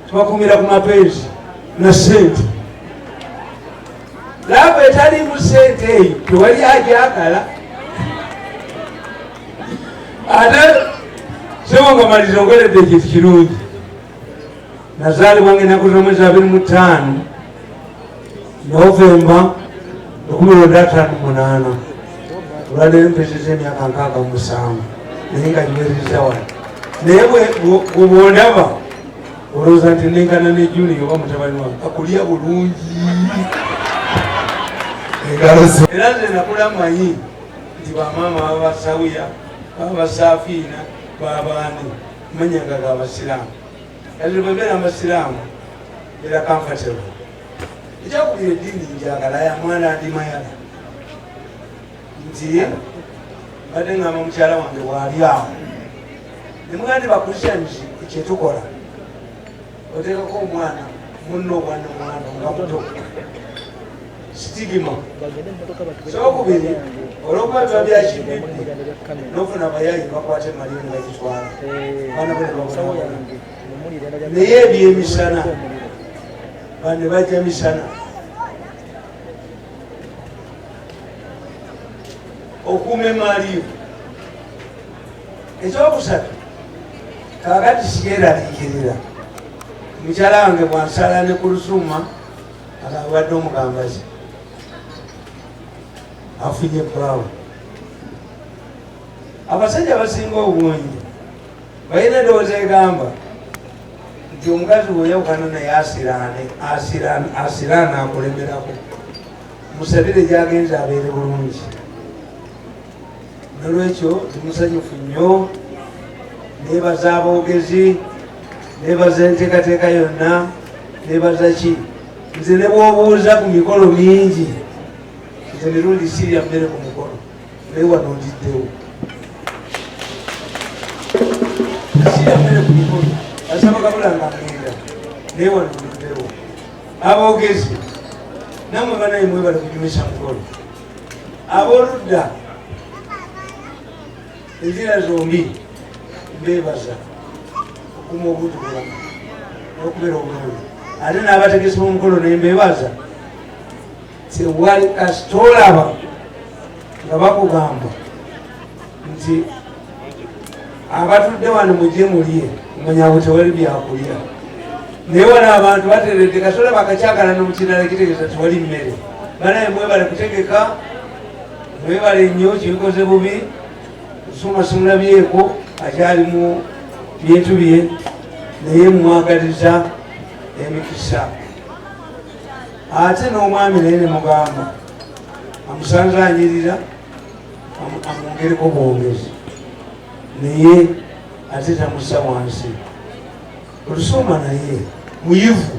tubakumira ku mapenzi na sente laavu etalimu sente eyo tewali ajakala ate sewangamaliza ongeredde ekintu kirungi nazaalibwa nga enaku z'omwezi abiri mu ttaano novemba 1858 olwaleero mpezeza emyaka nkaaga musanvu naye nga nywereza wano naye bwebwondaba olowooza nti nengana ne juni oba mutabani wange akulya bulungi engalozo era nze nakula manyi nti bamaama baba basawiya baba basafiina babaani manyanga ga basiraamu Kati bwembeera amasiraamu era comfortable ekyakubira eddiini njagala ya mwana ndi mayala nti mbadde ngamba mukyala wange waali awo nemugana nti bakristians kyetukola oteekako omwana munno obwana omwana nga muto sitigima kyokubiri olwokuba biba byakibibbi nofuna abayayi bakwata emali nga gitwala naye ebyemisana bane bajja misana okuuma emaaliyo ekyokusatu kakati sikyeraliikirira mukyala wange bwansala ne ku lusuuma abadde omugambazi afunye brown abasajja abasinga obungi balina edowooza egamba nti omukazi weyawukana naye asiraane asiraana akulemerako musabire gyagenza abeere bulungi nolwekyo tumusanyufu nnyo nebaza aboogezi nebaza enteekateeka yonna nebaza ki nze ne bwobuuza ku mikolo mingi nze mirundi sirya mmere ku mukolo naye wano ndiddewo sirya mmere ku mikolo asaba kabula nga ngenda naye wano ndiddewo aboogezi namwe banaye mwebale kunyumisa mukolo aboludda enjira zombi bebaza okuma obuntu bulamu nokubeera obulungi ate nabategesi bomukolo nembebaza tewali kasitolaba nga bakugamba nti abatudde wano mujje mulye manya abo tewali byakulya naye wano abantu bateredde katola bakakyagala nomukirala kitegeeza tewali mmere banaye mwebale kutegeka mwebale nnyo kibikoze bubi nsuma simulabyeko akyali mu bintu bye naye mwagaliza emikisa ate n'omwami naye ne mugamba amusanze anyirira amwongereko bwongezi naye ate tamussa wansi olusoma naye muyivu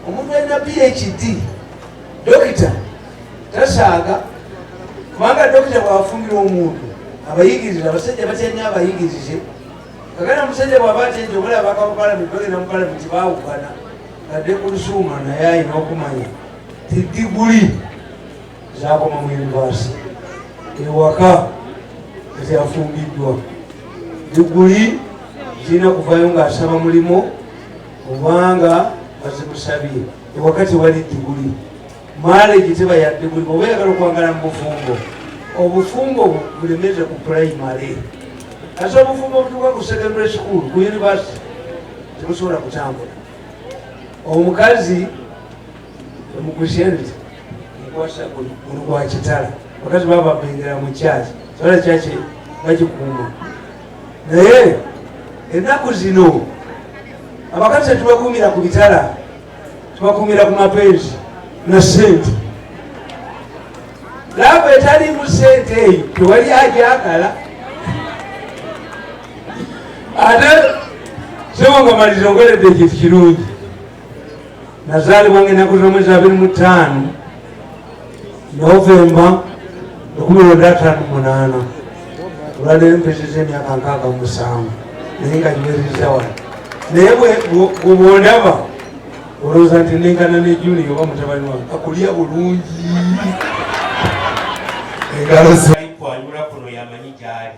omuntu alina phd dokita tasaaga kubanga dokita bwafumbira omuntu abayigiriza abasajja batyanya abayigirize kagana musajja bwaba atyenti obulaba bakamupalamenti bagenda mupalamenti bawukana adde ku lusuuma naye alina okumanya tidiguli zakoma mu universe ewaka ezafumbiddwa diguli zirina kuvayo ngaasaba mulimu obanga bazimusabye ewaka tewali diguli maleji teba ya diguli oba yagala okwangala mu bufumbo obufumbo bulemeze ku primary ate obufumbo obutuka ku secondary school ku university tebusobola kutambula omukazi Mukushenzi mukwasa gulu gwa kitala bakazi baba bengera mu kyaki sola kyaki bakikuuma naye ennaku zino abakazi tetubakuumira ku bitala tubakuumira ku mapenzi na sente laavu etalimu sente eyo tewali agyagala ate sebo nga maliza ogeredde ekintu kirungi nazaalibwa nga ennaku z'omwezi abiri mu ttaano novemba ekumi lwenda ataano munaana olwaleero mpezeza emyaka nkaaga musanvu naye nga nywezeza wano naye bwobondaba olowooza nti nengana ne juni oba mutabani wange akulya bulungi engalo zaikwanula kuno yamanyi gyali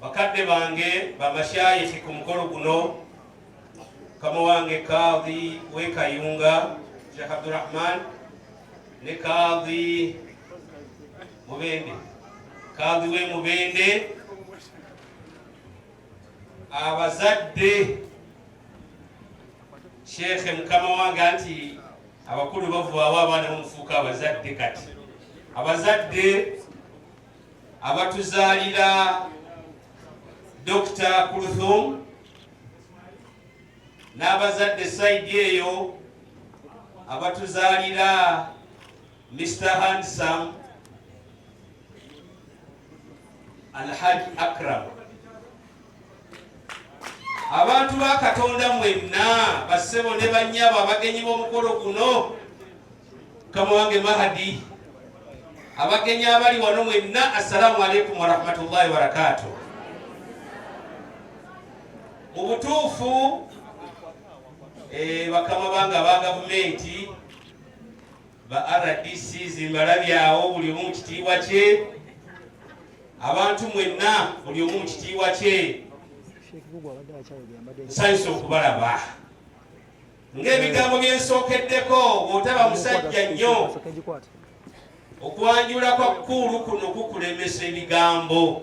Bakadde bange bamashayikhi ku mukolo guno kama wange kadhi wekayunga Sheikh Abdurrahman ne kadhi Mubende kadhi we Mubende abazadde Sheikh mukama wange anti abakulu bavaawo abaana bamufuuka abazadde kati abazadde abatuzaalira Dokita Kuluthum n'abazadde sayidi eyo abatuzaalira Mr Handsome Alhaji Akram abantu ba katonda mwenna bassebo ne bannyabo abagenyi b'omukolo guno kama wange mahadi abagenyi abali wano mwenna assalamu alaikum warahmatullahi wabarakatu mu butuufu eh, bakama bange aba gavumenti ba rdc zimbalabyawo buli omu mukitiibwa kye abantu mwenna buli omu mukitiibwa kye nsanyusa okubalaba ng'ebigambo byensookeddeko bw'otaba musajja nnyo okwanjula kwa kukuulu kuno kukulemesa ebigambo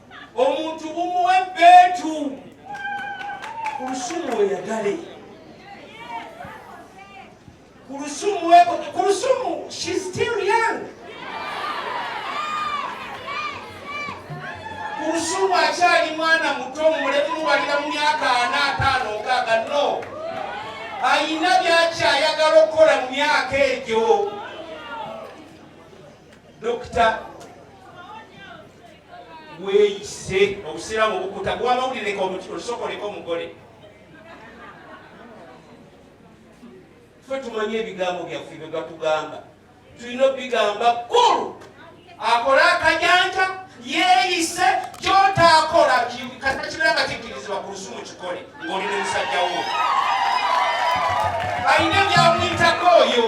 omuntu bumuwe beetu ku lusumu weyagale ku lusumu weko ku lusumu she still young ku lusumu akyali mwana muto mulemubalira mu myaka ana ataano nkaaga no ayina byakyayagala okukola mu myaka egyo dokita wekise obusiramu obukuta gwamawulireka olusokoleka omugole fe tumanye ebigambo byaffe byegatugamba tulina obigamba kulu akole akajanja yeyise kyotakola kata kibera nga kikirizibwa ku lusumu kikole ngaoli ne musajja wo alina ebyamuyitako oyo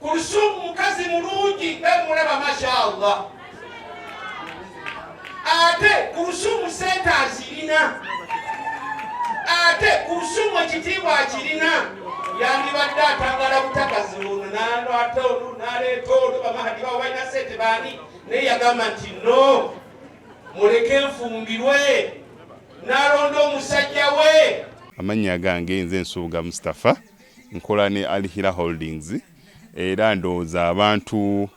Kulsum mukazi mulungi bemulaba mashallah ate Kulsum sente azirina ate Kulsum ekitiibwa akirina yandibadde atangala butakazi ono nalwata ono naleeta ono bamahadi bawo balina sente baani naye yagamba nti no muleke nfumbirwe nalonda omusajja we amannya gange nze nsuubuga mustafa Nkola ne Al Hira Holdings era ndowooza abantu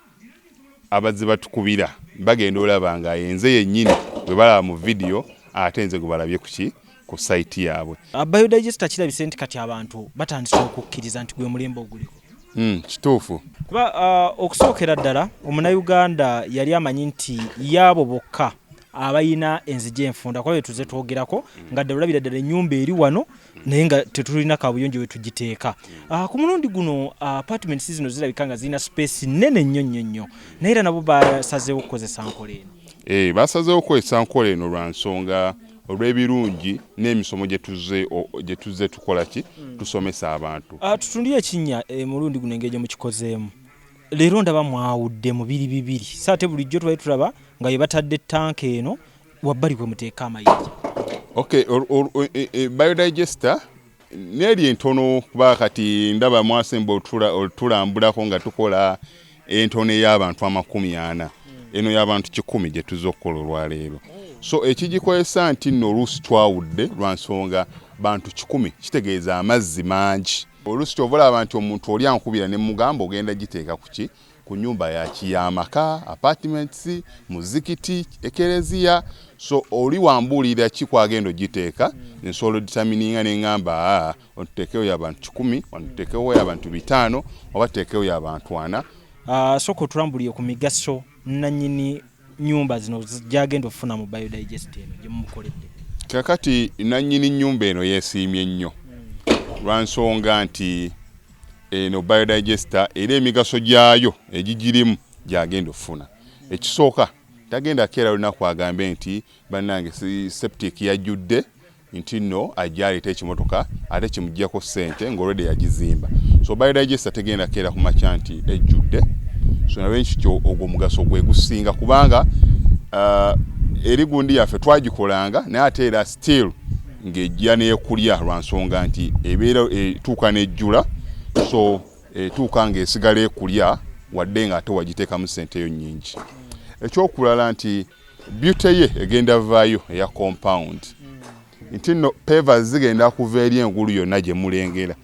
abazze batukubira bagenda olaba nga yenze yennyini gwe balaba mu vidiyo ate nze gwe balabye kuki ku sayiti yaabwe. Ah, Biodigester kirabise nti kati abantu batandise okukkiriza nti gwe mulembe oguliko. Hmm, kituufu. Kuba ah, okusookera ddala omunayuganda yali amanyi nti yaabo bokka abalina enzigi enfunda kuba bye tuze twogerako nga ddala olabira ddala ennyumba eri wano naye nga tetulina kabuyonjo wetugiteeka ah, ku mulundi guno ah, apartment si zino zirabika nga zirina space nene nnyo nnyo nnyo naye era nabo basazeewo okukozesa nkola eno eh, basazeewo okukozesa nkola eno lwa nsonga olw'ebirungi n'emisomo gye tuzze tukola ki hmm. tusomesa abantu ah, tutundire ekinnya eh, mulundi guno engeri gye mukikozeemu leero ndaba mwawudde mu biri bibiri saate bulijjo tubali tulaba nga ye batadde tanka eno wabbali kwe muteeka amayinja okay e, e, biodigester neeri entono kuba kati ndaba mwasemba otulambulako nga tukola entono ey'abantu amakumi ana eno y'abantu kikumi gye tuzza okukola olwaleero so ekigikozesa nti nno oluusi twawudde lwa nsonga bantu kikumi kitegeeza amazzi mangi oluusi kyovola abantu omuntu oli ankubira ne mugamba ogenda giteeka kuki ku nyumba yaki yamaka apartments muzikiti ekereziya so oli wambuulira ki kwagenda ogiteeka nsobola oditamininga nengamba ah, ontutekewo yabantu kikumi ontutekewo yabantu bitaano oba tutekewo yabantu ana ah, soka otulambulire ku migaso nanyini nyumba zino gyagenda okufuna mu biodigest eno gyemumukoledde kakati nanyini nyumba eno yesiimye nnyo lwansonga nti Eno biodigester era emigaso gyayo egigirimu gyagenda okufuna ekisooka tagenda keera lunaku agambe nti bannange septic yajjudde nti nno ajja aleeta ekimotoka ate kimuggyako ssente ng'olwedde yagizimba so biodigester tegenda keera ku makya nti ejjudde so nawe nkikyo ogwo omugaso gwe gusinga kubanga uh, eri gundi yaffe twagikolanga naye ate era still ng'ejja n'ekulya lwa nsonga nti ebeera etuuka n'ejjula so etuuka ng'esigala ekulya wadde ng'ate wagiteekamu ssente yo nnyingi ekyokulala nti byute ye egenda vaayo eya compound nti nno peva zigenda kuva eri engulu yonna gye mulengera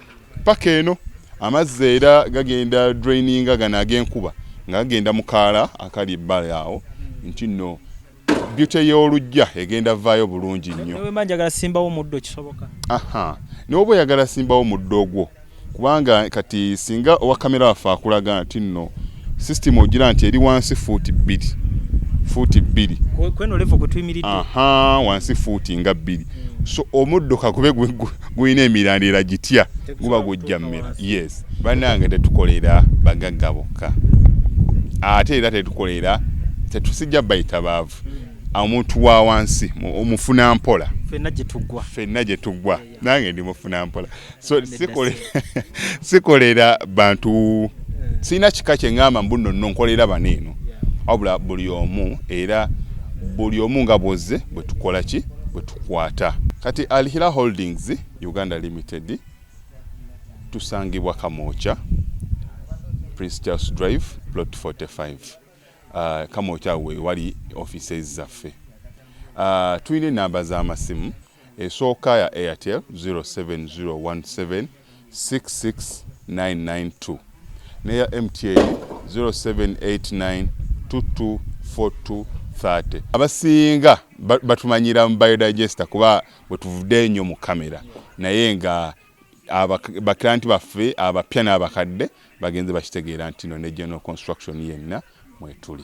paka eno amazzi era gagenda draininga gano ag'enkuba nga gagenda mukaala akali ebbali awo nti nno beauty y'olujja egenda vaayo bulungi nnyo. Nawe mba njagala simbawo muddo kisoboka. Aha. Nawe oba oyagala simbawo muddo ogwo kubanga kati singa owa kamera waffe akulaga nti nno system ogira nti eri wansi fuuti bbiri fuuti bbiri kweno levo kwe tuyimiridde aha wansi fuuti nga bbiri so omuddo kakube gulina emirandira gitya guba gujja mmera yes banange tetukolera bagagga bokka ate era tetukolera tetusijja bayita baavu omuntu wa wansi omufuna mpola fenna gyetugwa fenna gyetugwa nange ndi mufuna mpola so sikolera bantu eh. sirina kika kyeŋamba mbuno no nkolera bano eno wabula buli omu era buli omu nga bwoze bwetukola ki kwata kati Alhira Holdings Uganda Limited tusangibwa Kamokya Prince Charles Drive plot 45 uh, Kamokya we wali offices zaffe uh, tulina enamba z'amasimu esooka ya Airtel 07017 66992 neya MTN 0789224230 abasinga batumanyira mu biodigester kuba bwetuvude enyo mu kamera naye nga baklanti baffe abapya n'abakadde bagenze bakitegeera nti no ne general construction yenna mwetuli